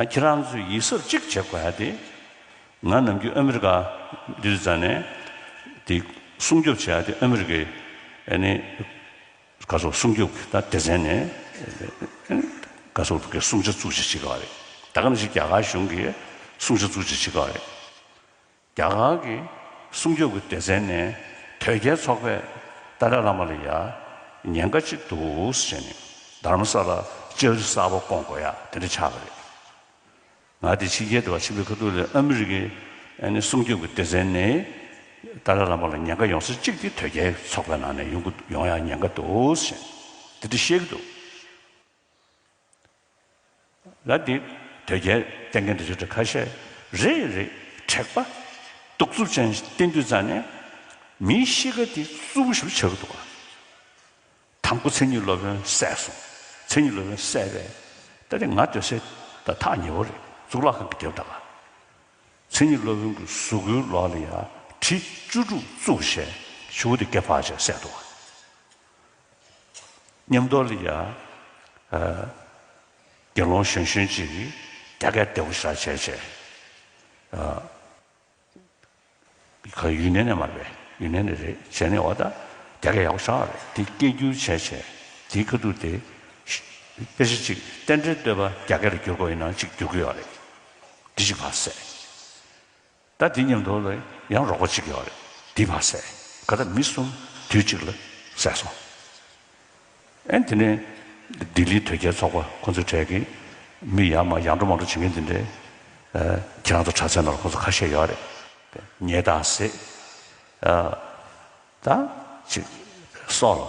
ཁྱེད་རང་ཚོས་ཡིད་གཟབ་གཅིག་བྱེད་དགོས་ཡ་དེ། ང་ནམ་རྒྱུན་ཨ་མི་རི་ཀ་འདི་རུ་བཙལ་ནས་དེ་སྲུང་སྐྱོབ་བྱེད་ཡ་དེ་ཨ་མི་རི་ཀའི་ནི་ག་སོག་སྲུང་སྐྱོབ་ཀྱི་ད་སྡེ་ཚན་ནས་ག་སོག་གི་སྲུང་བྱ་བཙུགས་བྱེད་བྱེད་དགོས་ཡ་རེད། ད་ག་ནི་ཞིག་རྒྱ་གར་གཞུང་གི་སྲུང་བྱ་བཙུགས་བྱེད་བྱེད་དགོས་ཡ་རེད། རྒྱ་གར་གྱི་སྲུང་སྐྱོབ་ཀྱི་སྡེ་ཚན་ནས་དོལ་རྒྱལ་ཚོགས་པས་ཏཱ་ལའི་བླ་མ་ལ་ཡང་ཉེན་ཁ་ཅིག་འདུག་ཟེར་ནས་རྡ་རམ་ས་ལར་ལྕགས་རི་གསར་པ་སྐོང་དགོས་ཡ་དེ་འདྲ་ཆགས་པ་རེད། ང་དེ་ཕྱི་རྒྱལ་དུ་བ་ཕྱིན་པའི་ཁ་ཐུག་ལས་ཨ་མི་རི་ཀའི་སྲུང་སྐྱོབ་ཀྱི་སྡེ་ཚན་ནས་ཏཱ་ལའི་བླ་མ་ལ་ཉེན་ཁ་ཡོང་ས་གཅིག་དེ་དོལ་རྒྱལ་ཚོགས་པའི་ནང་ནས་ཡོང་ཡ་ཉེན་ཁ་འདུག་ཟེར་ནས་དེ་འདྲ་བཤད་ཀྱི་འདུག། ལ་འདི་དོལ་རྒྱལ་བསྟེན་མཁན་དུ་ཆོས་གྲྭ་ཁ་ཤས་རེ་རེ་དྲེགས་པ་གདུག་རྩུབ་ཅན་བསྟེན་དུས་རྩ་ནས་མིའི་གཤིས་ཀ་འདི་རྩུབ་པོ་ཞིག་བྱ་གི་འདུག་དང་པོ་མཚན་ཉིད་སློབ་དཔོན་བསད་སོང་མཚན་ཉིད་སློབ་དཔོན་བསད་པས་ད་རེས་ང་དོལ་སེལ་ད་ཐག་ཉེ་བོ་རེད་གཙུག་ལག་ཁང་གི་རྒྱབ་ད་ལ་མཚན་ཉིད་སློབ་དཔོན་གྱི་གཟུགས་པོའི་ལོགས་ལ་ཡར་གྲི་བཅུ་དྲུག་བཙུགས་ཞེས་ཞུ་བ་དེ་སྐེ་ཕག་ཅེས་བསད་འདུག། ཉམས་རྟོགས་ལ་ཡ། དགེ་སློང་གཞོན་གཞོན་གྱིས་རྒྱ་སྐད་བདེ་བོ་བཤད་བྱས་བྱས། ཁོ་ཡུན་ནན་ནས་མ་རེད་ཡུན་ནན་ནས་རེད་བྱས་ནས་འོ་ད་རྒྱ་སྐད་ཡག་པོ་བཤད་རེད་དེ་སྐད་བསྒྱུར་བྱས་བྱས། དེའི་ཁ་ཐུག་དེ། དཔེ་ཆ་གཅིག་རྟེན་འབྲེལ་བསྟོད་པ་རྒྱ་སྐད་ལ་བསྒྱུར་དགོས་ཡིན་ན་གཅིག་བསྒྱུར་དགོས་ཡག་རེད། འདི་གཅིག་བར་སད། ད་འདི་ཉམས་རྟོགས་ལ་ཡང་རོགས་པ་བྱེད་དགོས་པ་རེད། འདི་མ་ཟད་ག་ད་མི་གསུམ་དུས་གཅིག་ལ་བསད་སོང། ཨན་དེ་ནས་ལྡི་ལིའི་དོལ་རྒྱལ་ཚོགས་པ་ཁོང་ཚོའི་གྲས་ཀྱི་མི་ཡང་མ་ཡང་འགྲོ་མ་འགྲོ་བྱེད་མཁན་དེ་འདྲས། ཁྱེད་རང་ཚོ་གྲྭ་ཚན་ནང་ཁོང་ཚོ་ཁ་ཤས་ཡོད་རེད། ཉེས་དང་ཟེད། ད་ཅིག་སོགས་ལ།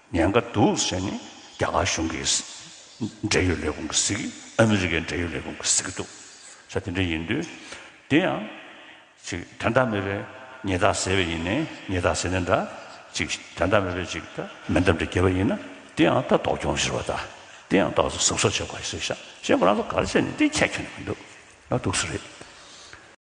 ཉེན་ཁ་འདུག་ཟེར་ནས་རྒྱ་གར་གཞུང་གི་འབྲེལ་ཡོད་ལས་ཁུངས་ཀྱི་གཟིགས། ཨ་མི་རི་ཀའི་འབྲེལ་ཡོད་ལས་ཁུངས་ཀྱི་གཟིགས་འདུག་ས་དེ་འདྲ་ཡིན་དུས། དེ་ཡང། ཅིག་དྲ་མདའ་མེད་པའི་ཉེས་རྟགས་ཟེར་བས་ཡིན། ཉེས་རྟགས་ཟེར་ནས་འདྲ། ཅིག་དྲ་མདའ་མེད་པའི་ཅིག་ད་མེ་མདའ་འདྲ་འགྱེལ་བ་ཡིན་ན། དེ་ཡང་ད་དོགས་གྱོང་ཟེར་བ་ད། དེ་ཡང་ད་གཟིགས་གཟིགས་སོགས་བྱེད་དགོས་ཟེར་ཞག་ཞེ་ཁོ་རང་ཚོ་གར་བྱས་ནས་དེ་ཁྱད་ཁྱོན་ནས་མི་འདུག་ན་འདུག་ས་རེད།